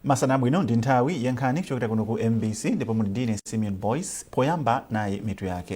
masana abwino ndi nthawi ya nkhani kuchokera kuno ku mbc ndipo muli ndine simeon boyce poyamba nayi mitu yake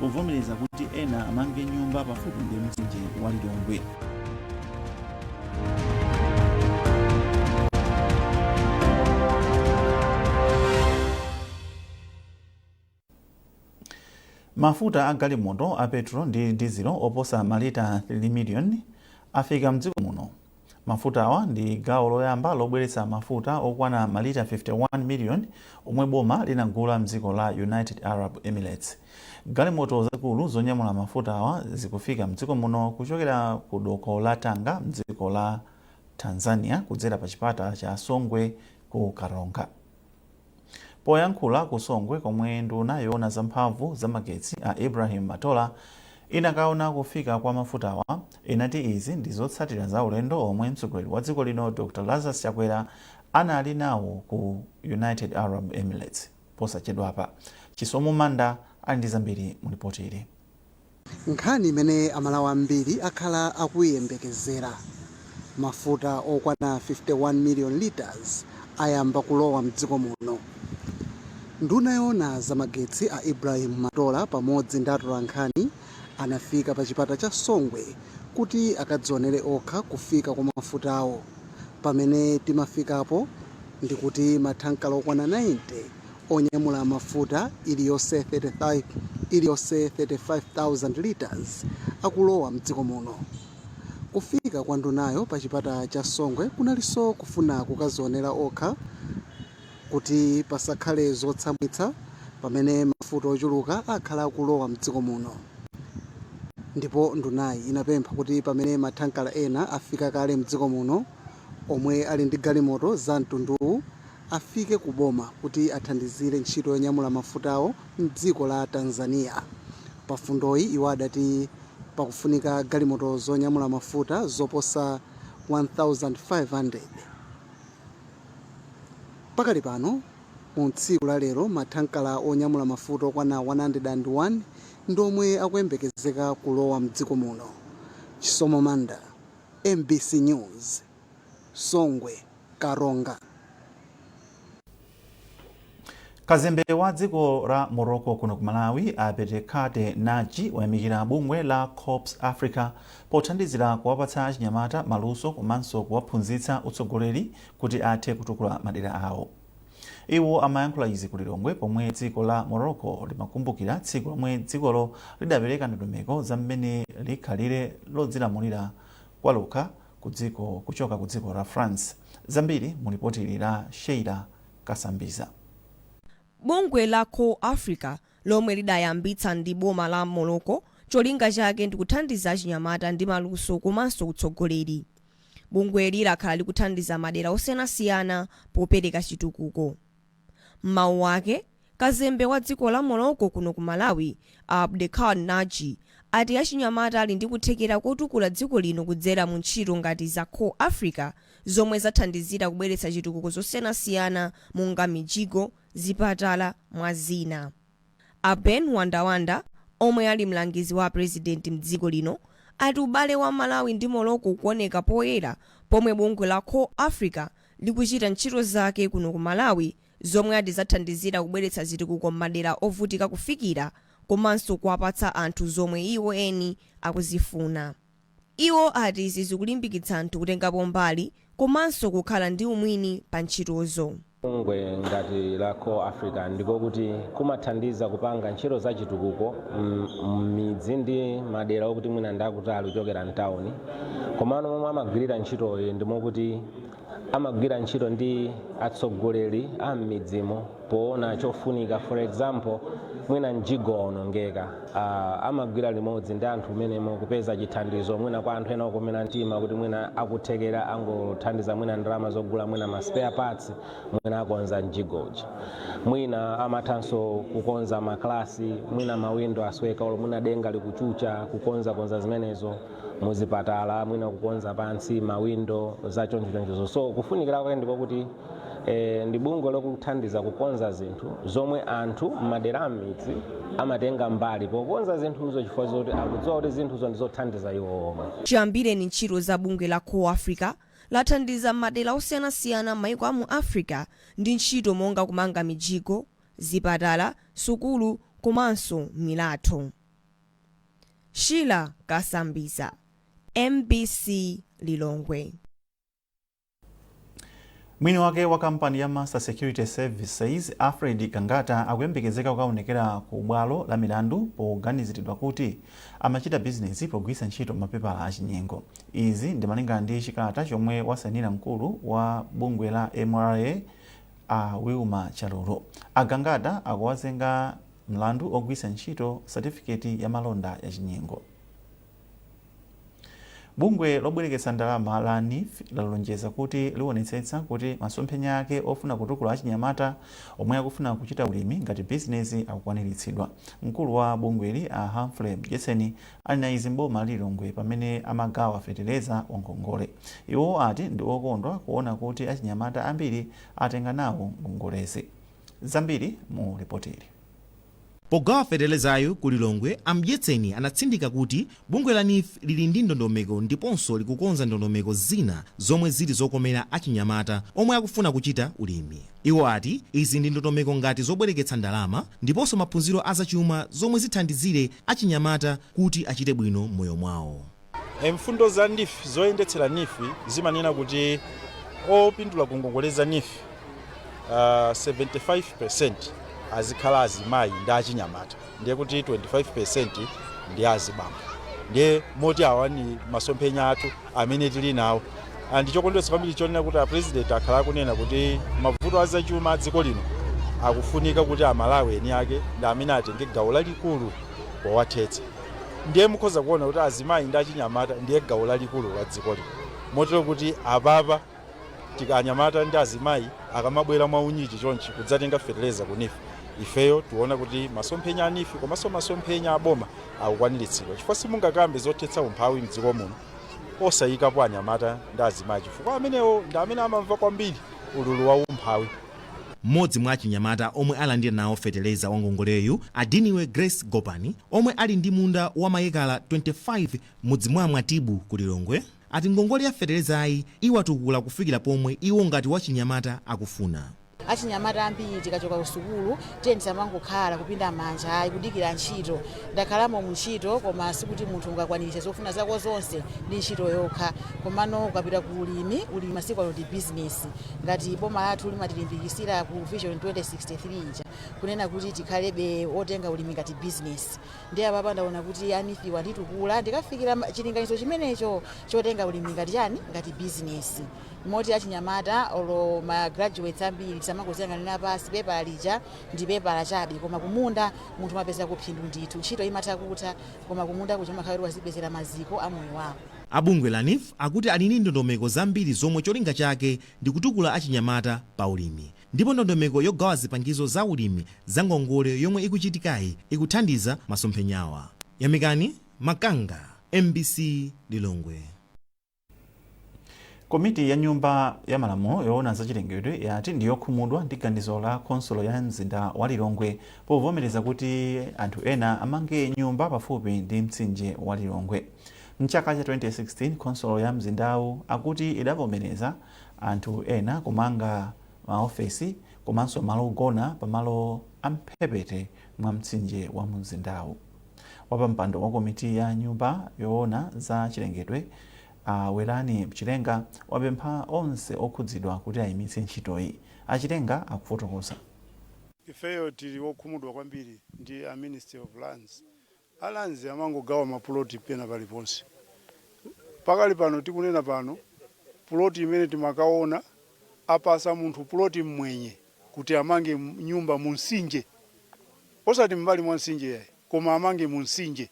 povomereza kuti ena amange nyumba pafupi ndi mtsinje wa lilongwe mafuta a galimoto a petro ndi dizilo oposa malita 3 miliyoni afika mdziko muno Mafutawa ndi gawo loyamba lobweretsa mafuta okwana malita 51 million omwe boma linagula mdziko la United Arab Emirates. Galimoto zakulu zonyamula mafutawa zikufika mdziko muno kuchokera ku doko la Tanga mdziko la Tanzania kudzera pa chipata cha Songwe ku Karonga. Poyankhula ku Songwe komwe nduna yoona za mphamvu za magetsi a Ibrahim Matola inakaona kufika kwa mafutawa, inati izi ndi zotsatira za ulendo omwe mtsogoleri wa dziko lino Dr Lazarus Chakwera anali nawo ku United Arab Emirates posachedwapa. Chisomo Manda ali ndi zambiri mu lipotili. Nkhani imene Amalawi ambiri akhala akuiyembekezera, Mafuta okwana 51 million litres ayamba kulowa m'dziko muno. Nduna yoona za magetsi a Ibrahim Matola pamodzi ndi atolankhani anafika pa chipata cha Songwe kuti akadzionere okha kufika kwa mafutawo. Pamene timafikapo ndikuti mathankala okwana 90 onyamula mafuta iliyonse 35,000 litres akulowa mdziko muno. Kufika kwa ndunayo pa chipata cha Songwe kunalinso kufuna kukazionera okha kuti pasakhale zotsamwitsa pamene mafuta ochuluka akhala akulowa mdziko muno ndipo ndunayi inapempha kuti pamene mathankala ena afika kale mdziko muno, omwe ali ndi galimoto za mtunduwu afike ku boma kuti athandizire ntchito yonyamula mafutawo m'dziko la Tanzania. Pa fundoyi iwo adati pakufunika galimoto zonyamula mafuta zoposa 1,500. Pakali pano, mu tsiku la lero mathankala onyamula mafuta okwana 101 ndi omwe akuyembekezeka kulowa m'dziko muno. Chisomo Manda. mbc news songwe karonga. Kazembe wa dziko la Morocco kuno ku Malawi Abdelkader Naji wayamikira bungwe la Corps Africa pothandizira kuwapatsa achinyamata maluso komanso kuwaphunzitsa utsogoleri kuti athe kutukula madera awo. Iwo amayankhula izi ku Lilongwe pomwe dziko la Morocco limakumbukira tsiku lomwe dzikolo lidapereka ndondomeko za mmene likhalire lodzilamulira kwalokha kudziko kuchoka ku dziko la France. Zambiri mu lipoti ili la Sheila Kasambiza. Bungwe la Corps Africa lomwe lidayambitsa ndi boma la Morocco cholinga chake ndi kuthandiza achinyamata ndi maluso komanso utsogoleri. Bungweli lakhala likuthandiza madera osiyanasiyana popereka chitukuko. M'mawu ake, kazembe wa dziko la Morocco kuno ku Malawi, a Abdelkader Naji, ati achinyamata ali ndi kuthekera kotukula dziko lino kudzera mu ntchito ngati za Corps Africa zomwe zathandizira kubweretsa zitukuko zosiyanasiyana monga mijigo, zipatala mwa zina. A Ben Wandawanda omwe ali mlangizi wa prezidenti mdziko lino ati ubale wa Malawi ndi Morocco ukuoneka poyera pomwe bungwe la Corps Africa likuchita ntchito zake kuno ku Malawi zomwe ati zathandizira kubweretsa zitukuko mmadera ovutika kufikira komanso kuwapatsa anthu zomwe iwo eni akuzifuna. Iwo ati izi zikulimbikitsa anthu kutengapo mbali komanso kukhala ndi umwini pa ntchitozo. Bungwe ngati la Corps Africa ndiko kuti kumathandiza kupanga ntchito za chitukuko m'midzi ndi madera okuti mwina ndi akutali kuchokera m'tauni komano momwe amagwirira ntchitoyi ndi mokuti amagwira ntchito ndi atsogoleri a m'midzimo poona chofunika for example mwina mjigo waonongeka uh, amagwira limodzi ndi anthu mmenemo kupeza chithandizo mwina kwa anthu ena okomera mtima kuti mwina akuthekera angothandiza mwina ndalama zogula mwina ma spare parts mwina akonza mjigo uja mwina amathanso kukonza maklasi mwina mawindo asweka olo mwina denga likuchucha kukonzakonza zimenezo muzipatala mwina kukonza pansi mawindo za chonchochoncho so kufunikira kwake ndikokuti eh, ndi bungwe lokuthandiza kukonza zinthu zomwe anthu m'madera amidzi amatenga mbali pokonza zinthuzo chifukwa zoti akudziwa kuti zinthuzo ndizothandiza iwo omwe chiyambireni ntchito za bungwe la corps africa lathandiza mmadera osiyanasiyana mmaiko a mu africa ndi ntchito monga kumanga mijigo zipatala sukulu komanso milatho Sheila Kasambiza, mbc Lilongwe. Mwini wake wa kampani ya Master Security Services, Alfred Gangata, akuyembekezeka kukaonekera ku bwalo la milandu poganiziridwa kuti amachita bizinesi pogwiritsa ntchito mapepala achinyengo. Izi ndi malingana ndi chikalata chomwe wasainira mkulu wa bungwe la mra a Wilma Chalulu. A Gangata akuwazenga Mlandu wogwiritsa ntchito satifiketi ya malonda yachinyengo. Bungwe lobwereketsa ndalama la neef lalonjeza kuti liwonetsetsa kuti masomphenya ake ofuna kutukula achinyamata omwe akufuna kuchita ulimi ngati bizinezi akukwaniritsidwa. Mkulu wa bungweli a Humphrey Mdyetseni anena izi m'boma la Lilongwe pamene amagawa fetereza wa ngongole. Iwo ati ndi okondwa kuona kuti achinyamata ambiri atenga nawo ngongolezi. Zambiri mu lipotili. Pogawa fetelezayu ku Lilongwe, a Mdyetseni anatsindika kuti bungwe la neef lili ndi ndondomeko ndiponso likukonza ndondomeko zina zomwe zili zokomera achinyamata omwe akufuna kuchita ulimi. Iwo ati izi ndi ndondomeko ngati zobwereketsa ndalama ndiponso maphunziro a zachuma zomwe zithandizire achinyamata kuti achite bwino m'moyo mwawo. Mfundo za neef zoyendetsera neef zimanena kuti opindula ku ngongole za neef 75% azikhala azimayi ndi achinyamata ndiye kuti 25% ndi azibambo ndiye moti awa ni masomphenya athu amene tili nawo nde chokondweretsa kwambiri chonena kuti a president akhala akunena kuti mavuto a zachuma a dziko lino akufunika kuti amalawi eni ake ndi amene atenge gawo lalikulu powathetsa Ndiye mukhoza kuona kuti azimayi ndi achinyamata ndiye gawo lalikulu la dziko lino motero kuti apapa anyamata ndi azimayi akamabwera mwa unyinji chonchi kudzatenga fetereza ku NEEF, ifeyo tiona kuti masomphenya a NEEF komanso masomphenya a boma akukwaniritsidwa chifukwa simungakambe zothetsa umphawi m'dziko muno osayikapo anyamata ndi azimayi chifukwa amenewo ndi amene amamva kwambiri ululu wa umphawi. M'modzi mwa achinyamata omwe alandira nawo feteleza wangongoleyu, a Diniwe Grace Gopani, omwe ali ndi munda wa mayekala 25 mudzi mwa Mwatibu ku Lilongwe, ati ngongole ya fetelezayi iwatukula kufikira pomwe iwo ngati wachinyamata akufuna. Achinyamata ambiri tikachoka kusukulu tiyeni tisamangokhala kupinda manja ayi kudikira ntchito. Ndakhalamo mu ntchito, koma sikuti munthu ungakwaniritse zofuna zako zonse ndi ntchito yokha. Komano ukapita ku ulimi, ulimi masiku ano ndi bizinesi. Ngati boma lathu limatilimbikitsira ku Vision 2063 ija kunena kuti tikhalebe otenga ulimi ngati bizinesi, ndiye apapa ndaona kuti a neef-wa anditukula ndikafikira ma- chilinganizo chimenecho chotenga ulimi ngati chani, ngati bizinesi. Moti achinyamata olo ma graduates ambiri tisamangodziyang'anira pansi, pepala lija ndi pepala chabe, koma kumunda munthu umapezako phindu ndithu. Ntchito imatha kutha, koma kumunda kuja umakhala kuti wazipezera maziko a moyo wako. A bungwe la neef akuti ali ndi ndondomeko zambiri zomwe cholinga chake ndi kutukula achinyamata pa ulimi ndipo ndondomeko yogawa zipangizo za ulimi za ngongole yomwe ikuchitikayi ikuthandiza masomphenyawa. Yamikani Makanga, mbc, Lilongwe. Komiti ya nyumba ya malamulo yoona za chilengedwe yati ndi yokhumudwa ndi ganizo la khonsolo ya mzinda wa Lilongwe povomereza kuti anthu ena amange nyumba pafupi ndi mtsinje wa Lilongwe. M'chaka cha 2016, khonsolo ya mzindawu akuti idavomereza anthu ena kumanga maofesi komanso malo ogona pamalo a m'mphepete mwa mtsinje wa mumzindawu. Wapampando wa komiti ya nyumba yoona za chilengedwe a Werani Chilenga wapempha onse okhudzidwa kuti ayimitse ntchitoyi. A Chilenga akufotokoza. Ifeyo tili okhumudwa kwambiri ndi a ministry of lands. A lands amangogawa ma plot pena paliponse. Pakali pano tikunena pano plot imene timakaona apasa munthu plot mmwenye kuti amange nyumba mu nsinje. Osati m'mbali mwa msinje yayi, koma amange mu msinje.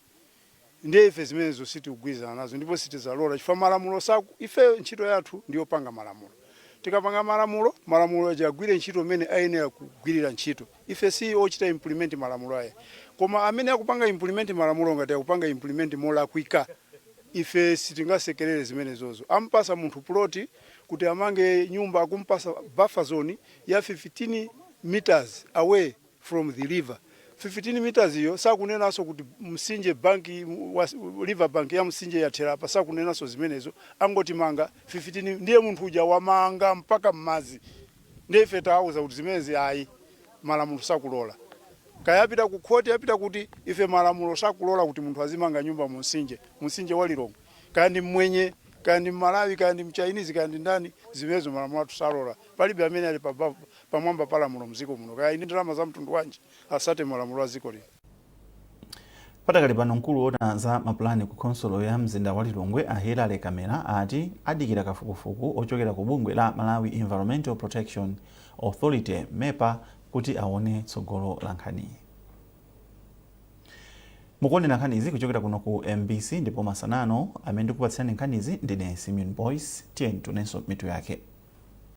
Ndiye ife zimenezo sitikugwirizana nazo ndipo sitizalola chifukwa malamulo saku, ifeyo ntchito yathu ndi yopanga malamulo. Tikapanga malamulo, malamulo aja agwire ntchito m'mene ayenera kugwirira ntchito. Ife si ochita implement malamulo ayi. Koma amene akupanga implement malamulo ngati akupanga implement molakwika, ife sitingasekelere zimenezozo. Ampasa munthu plot kuti amange nyumba, akumpasa buffer zone ya 15 metres away. from the river 15 meters iyo sakunenanso kuti msinje bank wa river bank ya msinje yathera apa sakunenanso zimenezo angoti manga 15 ndiye munthu uja wamanga mpaka mmadzi ndiye ife tawauza kuti zimenezi ayi malamulo sakulola kaya apita ku khoti apita kuti ife malamulo sakulola kuti munthu azimanga nyumba mu msinje mu msinje wa lilongwe kaya ndi mmwenye kaya ndi mmalawi kaya ndi mchainizi kaya ndi ndani zimenezo malamulo athu salola palibe amene ali pa bavu pamwamba pa lamulo mziko muno kaya ndi ndalama za mtundu wanji asate malamulo a dziko lino. Padakali pano mkulu oona za mapulani ku khonsolo ya mzinda wa Lilongwe a Hillary Kamela ati adikira kafukufuku ochokera ku bungwe la Malawi Environmental Protection Authority MEPA kuti aone tsogolo la nkhaniyi. Mukuonera nkhanizi kuchokera kuno ku MBC ndipo masana ano amene ndikupatsirani nkhanizi ndine Simeon Boyce. Tiyeni tionenso mitu yake.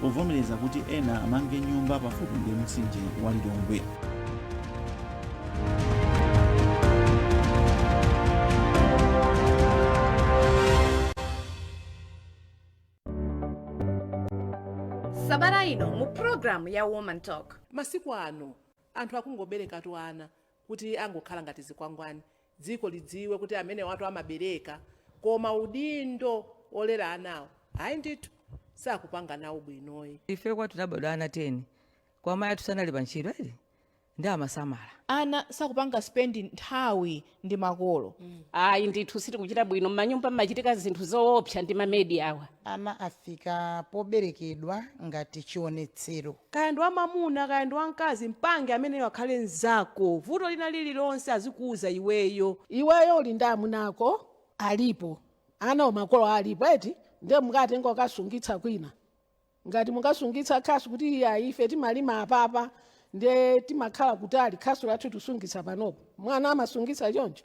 povomereza kuti ena amange nyumba pafupi ndi mtsinje wa Lilongwe. sabata ino mu programu ya woman talk masiku ano anthu akungoberekatu ana kuti angokhala ngati zikwangwani dziko lidziwe kuti amenewatu amabereka koma udindo olera anawo ayi ndithu sakupanga nawo bwinoyi. Ife kwathu tinabadwa ana 10 kwa amayi athu sanali pa ntchito eti ndiye amasamala. Ana sakupanga spend nthawi ndi makolo. ayi ndithu sitikuchita bwino m'manyumba mmachitika zinthu zoopsa ndi mamedi awa Ana afika poberekedwa ngati chionetsero. Kaya ndi wamamuna kaya ndi wamkazi mpange ameneyo akhale nzako vuto lina lililonse azikuuza iweyo. Iweyo uli ndi amuna ako alipo anawo makolo alipo eti ndiye mukatenga mukasungitsa kwina ngati mukasungitsa khasu kuti iyayi ife timalima apapa ndiye timakhala kutali khasu lathu tusungitsa panopo mwana amasungitsa choncho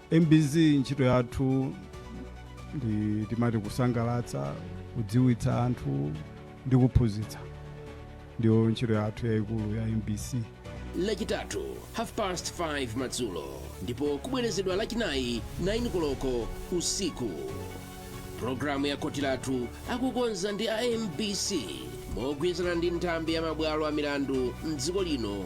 Mbc ntchito yathu ndi timati kusangalatsa, kudziwitsa anthu ndi kuphunzitsa. Ndiyo ntchito yathu yayikulu ya mbc. lachitatu half past 5 madzulo ndipo kubwerezedwa lachinayi 9 koloko usiku pulogalamu ya khoti lathu akukonza ndi a mbc mogwirizana ndi nthambi ya mabwalo a milandu mdziko lino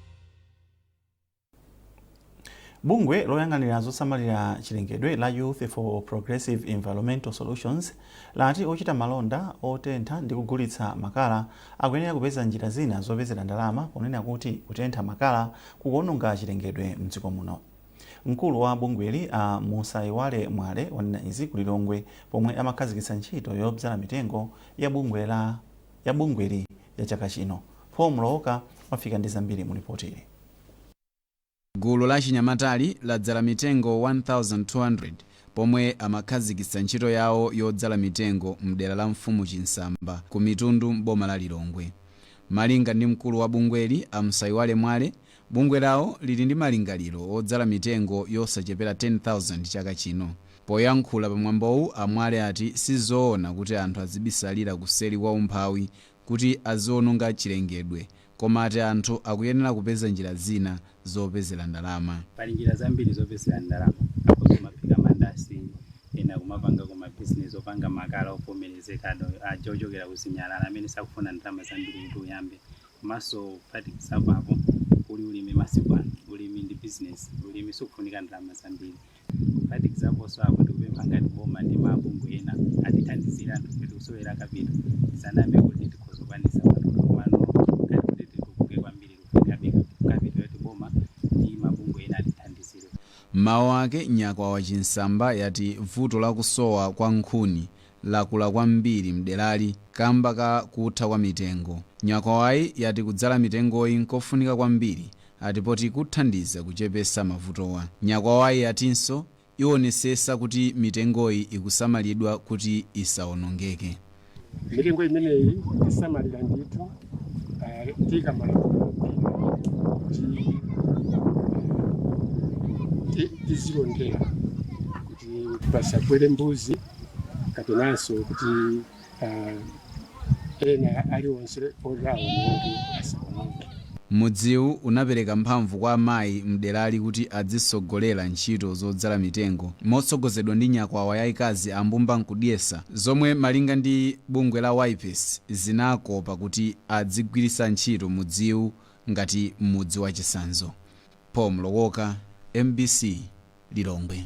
bungwe loyang'anira zosamalira chilengedwe la youth for progressive environmental solutions lati ochita malonda otentha ndi kugulitsa makala akuyenera kupeza njira zina zopezera ndalama ponena kuti kutentha makala kukuononga chilengedwe mdziko muno mkulu wa bungweli a musaiwale mwale wanena izi ku lilongwe pomwe amakhazikitsa ntchito yobzala mitengo ya bungwe la bungweli ya chaka chino. Paul Mlowoka wafika ndi zambiri mu lipotili. Gulu la achinyamatali ladzala mitengo 1,200 pomwe amakhazikitsa ntchito yawo yodzala mitengo m'dera la mfumu Chinsamba ku Mitundu m'boma la Lilongwe. Malinga ndi mkulu wa bungweli a Msayiwale Mwale, Bungwe lawo lili ndi malingaliro odzala mitengo yosachepera 10,000 chaka chino. Poyankhula pa mwambowu, a Mwale ati si zoona kuti anthu azibisalira kuseri kwa umphawi kuti aziononga chilengedwe koma ati anthu akuyenera kupeza njira zina zopezera ndalama. Pali njira zambiri zopezera ndalama, akhoza kumaphika mandasi, ena kumapangako ma bizinesi opanga makala ovomerezeka aja ochokera ku zinyalala amene sakufuna ndalama zambiri kuti uyambe, Komanso kuphatikizapo apo, kuli ulimi masiku ano. Ulimi ndi business. Ulimi sukufunika ndalama zambiri. Kuphatikizaponso apo, tikupempha ngati boma ndi mabungwe ena atithandizire anthufe tikusowera kapito tisanayambe kuti tikhoza kukwanitsa matuta komano ngati kuti titukuke kwambiri tikufunikabe kapito yoti boma ndi mabungwe ena atithandizire. M'mawu ake, Nyakwawa Chinsamba yati vuto la kusowa kwa nkhuni lakula kwambiri mderali kamba ka kutha kwa mitengo. Nyakwawai yati kudzala mitengoyi nkofunika kwambiri ati poti kuthandiza kuchepesa mavutowa. Nyakwawai yatinso iwonesesa kuti mitengoyi ikusamalidwa kuti isaonongeke. Mitengo imeneyi tisamalira ndithu tiika malamulo kuti tizilondera kuti pasabwere mbuzi. kapenanso kuti ah, ena aliwonse oti awononge asawononge Mudziwu unapereka mphamvu kwa amayi m'derali kuti adzisogolera ntchito zodzala mitengo motsogozedwa ndi nyakwawa yaikazi Ambumba Nkudyesa zomwe malinga ndi bungwe la YPES zinakopa kuti adzigwiritsa ntchito mudziwu ngati mudzi wachisanzo. Paul Mlowoka, mbc, Lilongwe.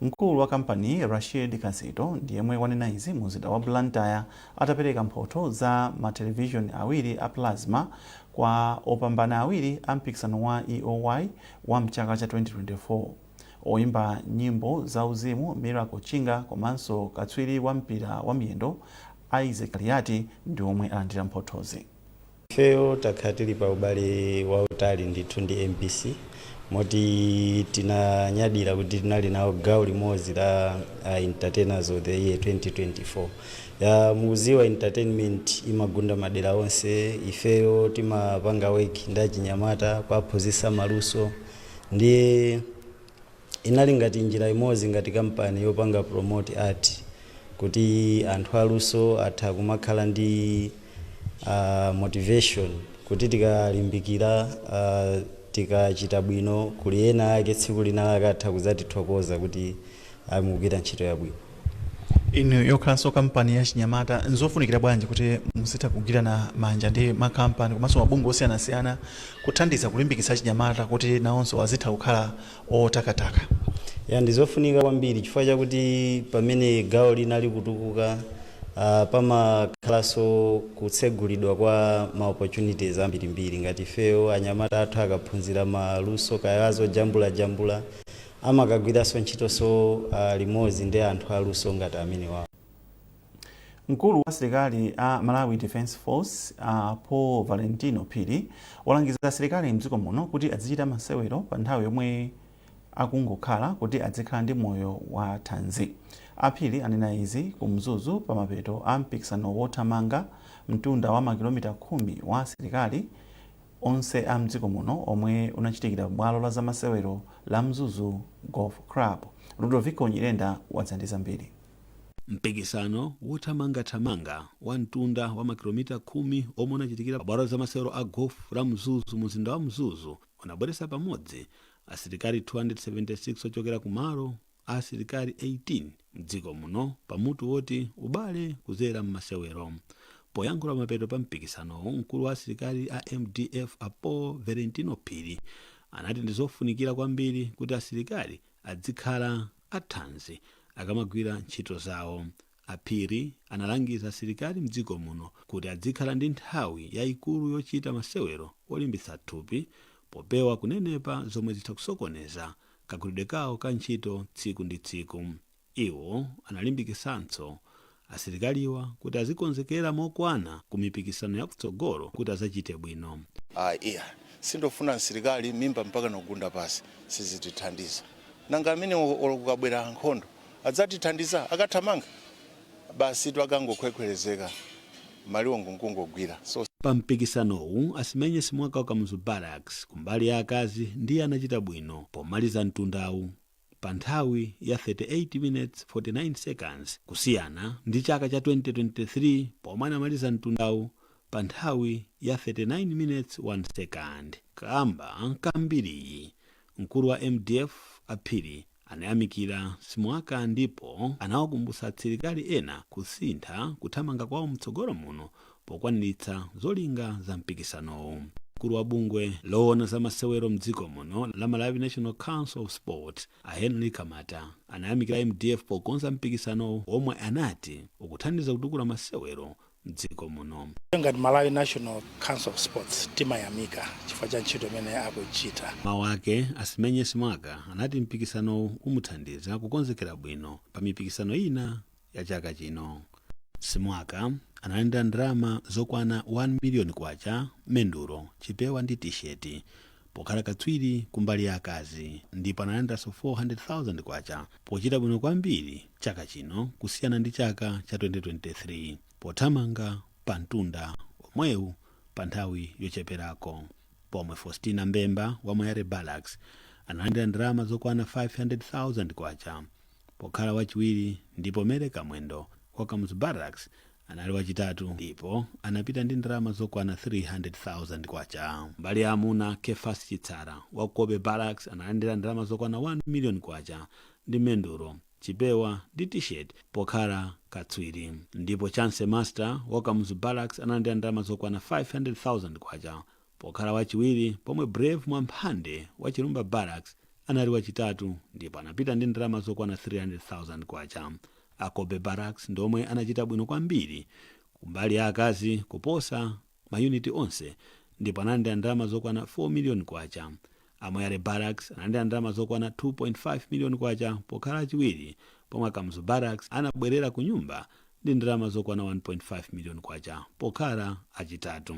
Mkulu wa kampani Rashid Kasito ndi yemwe wanena izi munzinda wa Blantyre atapereka mphotho za ma television awiri a plasma kwa opambana awiri a mpikisano wa EOY wa mchaka cha 2024 oyimba nyimbo za uzimu Miracle Chinga komanso katswiri wa mpira wa miyendo Isaac Kaliati ndi omwe alandira mphothozi. Ifeyo takhala tili pa ubale wautali ndithu ndi mbc moti tinanyadira kuti tinali nawo gawo limodzi la uh, entertainers of the year 2024 ya mukuziwa entertainment imagunda madera onse ifeyo timapanga work ndi achinyamata kuwaphunzitsa maluso ndiye Inali ngati njira imodzi ngati kampani yopanga promote art kuti anthu aluso atha kumakhala ndi motivation kuti tikalimbikira tikachita bwino kuli ena ake tsiku lina lake atha kudzatithokoza kuti ayi mukugwira ntchito yabwino. inu yokhalanso kampani ya chinyamata nzofunikira bwanji kuti muzitha kugwirana manja ndi makampani komanso mabungwe osiyanasiyana kuthandiza kulimbikitsa achinyamata kuti nawonso azitha kukhala otakataka ya ndizofunika kwambiri chifukwa chakuti pamene gawo lina likutukuka uh, pamakhalanso kutsegulidwa kwa ma opportunities ambirimbiri ngati ifeyo anyamata athu akaphunzira maluso kaya azojambulajambula amakagwiranso ntchitonso limodzi ndi anthu aluso ngati amenewawa. Mkulu wa asilikali a Malawi Defence Force a Paul Valentino Phiri walangiza asilikali mdziko muno kuti adzichita masewero pa nthawi yomwe akungokhala kuti adzikhala ndi moyo wa thanzi. A Phiri anena izi ku Mzuzu pa mapeto a mpikisano wothamanga mtunda wa makilomita khumi wa asilikali onse a mdziko muno omwe unachitikira bwalo la zamasewero la Mzuzu Golf Club. Ludovico Nyirenda wadza ndi zambiri. Mpikisano wothamangathamanga wa mtunda wa makilomita khumi omwe unachitikira pa bwalo la zamasewero a Golf la Mzuzu mu mzinda wa Mzuzu unabweretsa pamodzi asilikali 276 ochokera ku malo a asilikali 18 mdziko muno pa mutu woti ubale kuzera mmasewero. Poyankhula pamapeto pa mpikisanowu mkulu wa asilikali a mdf a Paul Valentino Phiri anati ndizofunikira kwambiri kuti asilikali adzikhala athanzi akamagwira ntchito zawo. A Phiri analangiza asilikali mdziko muno kuti adzikhala ndi nthawi yaikulu yochita masewero olimbitsa thupi popewa kunenepa zomwe zitha kusokoneza kagwiridwe kawo ka ntchito tsiku ndi tsiku. Iwo analimbikitsanso asilikaliwa kuti azikonzekera mokwana ku mipikisano ya kutsogolo kuti azachite bwino. Ayi iya sindofuna msilikali mimba mpakana kugunda pasi sizitithandiza nanga amenewo olo kukabwera nkhondo Adzatithandiza? Akathamanga, basitu akangokhwekhwerezeka, maliwongo n'kungogwira. So. Pa mpikisanowu, Asimenye Simwaka wa Kamuzu Barracks kumbali ya akazi ndiye anachita bwino pomaliza mtundawu pa nthawi ya 38 minutes 49 seconds kusiyana ndi chaka cha 2023 pomwe anamaliza mtundawu pa nthawi ya 39 minutes 1 second. Kaamba ka mbiriyi, Mkulu wa mdf a Phiri anayamikira Simwaka ndipo anawakumbutsa asilikali ena kusintha kuthamanga kwawo mtsogolo muno pokwaniritsa zolinga za mpikisanowu. Mkulu wa bungwe lowona za masewero mdziko muno la Malawi National Council of Sport a Henry Kamata anayamikira mdf pokonza mpikisanowu omwe anati ukuthandiza kutukula masewero mdziko muno. ngati malawi national council of sports timayamika chifukwa cha ntchito imene akuchita mawu ake asimenye simwaka anati mpikisanowu umuthandiza kukonzekera bwino pa mipikisano ina ya chaka chino simwaka analandira ndalama zokwana 1 miliyoni kwacha mendulo chipewa ndi tisheti pokhala katswiri kumbali ya akazi ndipo analandiranso K400,000 pochita bwino kwambiri chaka chino kusiyana ndi chaka cha 2023 pothamanga pa mtunda omwewu pa nthawi yocheperako. Pomwe Faustina Mbemba wa Moyale Barracks analandira ndalama zokwana K500,000 pokhala wachiwiri ndipo Mary Kamwendo wa Kamuzu Barracks Anali wachitatu ndipo anapita ndi ndalama zokwana K300,000. Mbali ya amuna, Kephas Chitsara wa Cobbe Barracks analandira ndalama zokwana K1 million ndi mendulo, chipewa ndi T-shirt pokhala katswiri ndipo Chance Master wa ku Kamuzu Barracks analandira ndalama zokwana K500,000. Pokhala wachiwiri pomwe Brave Mwamphande wa Chilumba Barracks anali wachitatu ndipo anapita ndi ndalama zokwana K300,000. A Cobbe Barracks ndi omwe anachita bwino kwambiri kumbali ya akazi kuposa mayuniti onse ndipo analandira ndalama zokwana K4 miliyoni. A Moyale Barracks analandira ndalama zokwana K2.5 million pokhala achiwiri pomwe a Kamuzu Barracks anabwerera kunyumba ndi ndalama zokwana K1.5 million pokhala achitatu.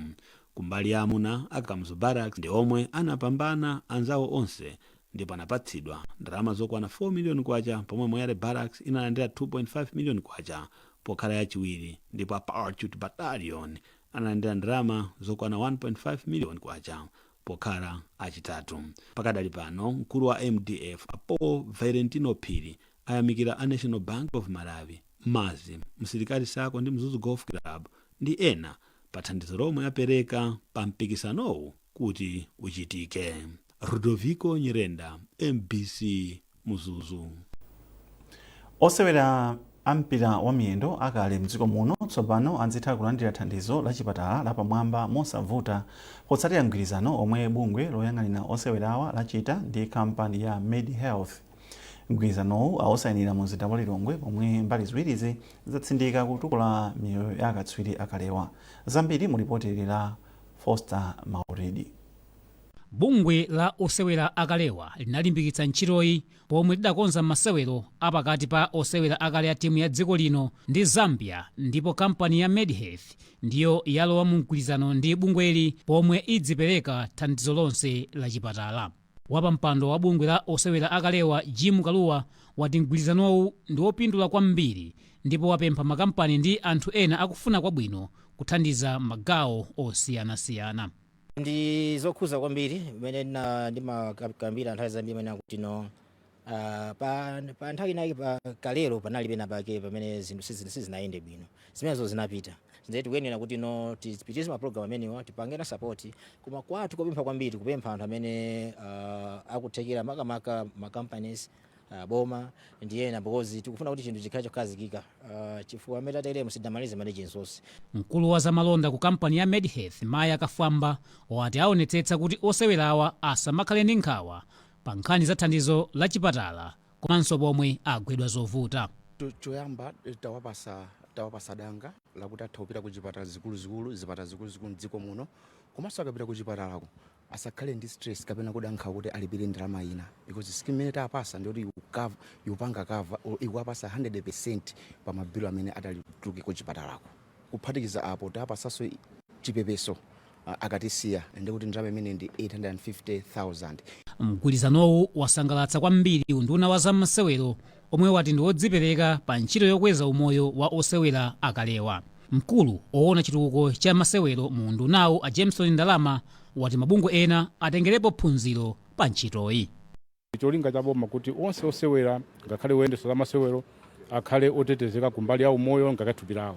Kumbali ya amuna, a Kamuzu Barracks ndi omwe anapambana anzawo onse ndipo anapatsidwa ndalama zokwana K4 million pomwe Moyale Barracks inalandira K2.5 million pokhala yachiwiri ndipo a Parachute Battalion analandira ndalama zokwana K1.5 million. Pokhala achitatu pakadali pano, mkulu wa mdf a Paul Valentino Phiri ayamikira a National Bank of Malawi, maz, Msilikali Sacco ndi Mzuzu Golf Club ndi ena pa thandizo lomwe apereka pa mpikisanowu kuti uchitike. Rudoviko Nyirenda, mbc. Mzuzu. Osewera a mpira wa miyendo akale mdziko muno tsopano adzitha kulandira thandizo la chipatala la pamwamba mosavuta potsatira mgwirizano omwe bungwe loyang'anira osewerawa lachita ndi kampani ya Medhealth. Mgwirizanowu awusainira mumzinda wa Lilongwe pomwe mbali ziwirizi zatsindika kutukula miyoyo ya akatswiri akalewa. Zambiri mu lipoti ili la Foster Maulidi. Bungwe la osewera akalewa linalimbikitsa ntchitoyi pomwe lidakonza masewero a pakati pa osewera akale a timu ya dziko lino ndi Zambia ndipo kampani ya Medhealth ndiyo yalowa mu mgwirizano ndi bungweli pomwe idzipereka thandizo lonse la chipatala. Wapampando wa bungwe la osewera akalewa Jim Kalua wati mgwirizanowu ndi wopindula kwambiri ndipo wapempha makampani ndi anthu ena akufuna kwabwino kuthandiza m'magawo osiyanasiyana. Ndi zokhuza kwambiri mmene ndimakambira nthawi zambiri mene akuti no ah, pa, pa nthawi inayake pa kalero panali pena pake pamene zinthu sizi- sizinayende bwino zimenezo zinapita nde tikuyenera kuti no tipitirize mapulogalamu amenewa tipangane sapoti koma kwathu kopempha kwambiri kupempha anthu amene ah, akuthekera makamaka ma companies uh, boma ndi ena because tikufuna kuti chinthu chikhale chokhazikika uh, chifukwa amene tateremo sidamalize manage nsosi mkulu wa zamalonda ku kampani ya medhealth maya kafwamba wati aonetsetsa kuti osewerawa asamakhale ndi nkhawa pa nkhani za thandizo la chipatala komanso pomwe agwedwa zovuta Cho- choyamba eh, tawapasa tawapasa danga lakuti atha kupita ku zipatala zikuluzikulu zipatala zikuluzikulu mdziko muno komanso akapita ku chipatalako asakhale ndi stress kapena kuda nkhawa kuti alipire ndalama ina because scheme imene tawapasa ndi yoti ikupanga cover ikuwapasa 100% pa ma bill amene atati atuluke ku chipatalako kuphatikiza apo tawapasanso i- chipepeso ah, akatisiya ndi kuti ndalama imene ndi 850,000 Mgwirizanowu wasangalatsa kwambiri unduna wa za masewero omwe wati ndi odzipereka pa ntchito yokweza umoyo wa osewera akalewa. Mkulu owona chitukuko cha masewero mu undunawu a Jameson Ndalama wati mabungwe ena atengerepo phunziro pa ntchitoyi. Ndi cholinga cha boma kuti onse osewera ngakhale oyendetsa za masewero akhale otetezeka ku mbali ya umoyo ngakhale thupi lawo.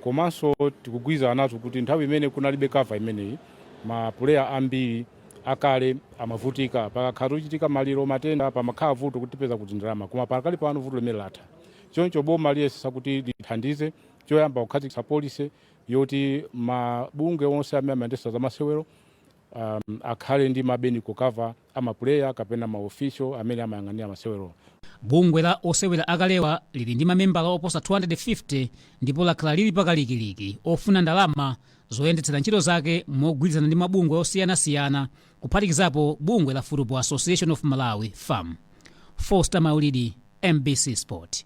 Komanso tikugwirizana nazo kuti nthawi imene kunalibe cover imeneyi ma player ambiri akale amavutika pakakhala chochitika maliro matenda pamakhala vuto kuti tipeza kuti ndalama koma pakali pano vuto limeneli latha choncho boma liyesesa kuti lithandize choyamba kukhazikitsa policy yoti mabungwe onse amene amayendetsa zamasewero um, akhale ndi ma medical cover a mapuleya kapena ma official amene amayang'anira masewerowa. Bungwe la osewera akalewa lili ndi mamembala oposa 250 ndipo lakhala lili pa kalikiliki ofuna ndalama zoyendetsera ntchito zake mogwirizana ndi mabungwe osiyanasiyana kuphatikizapo bungwe la Football Association of Malawi, fam. Foster Maulidi, mbc Sport.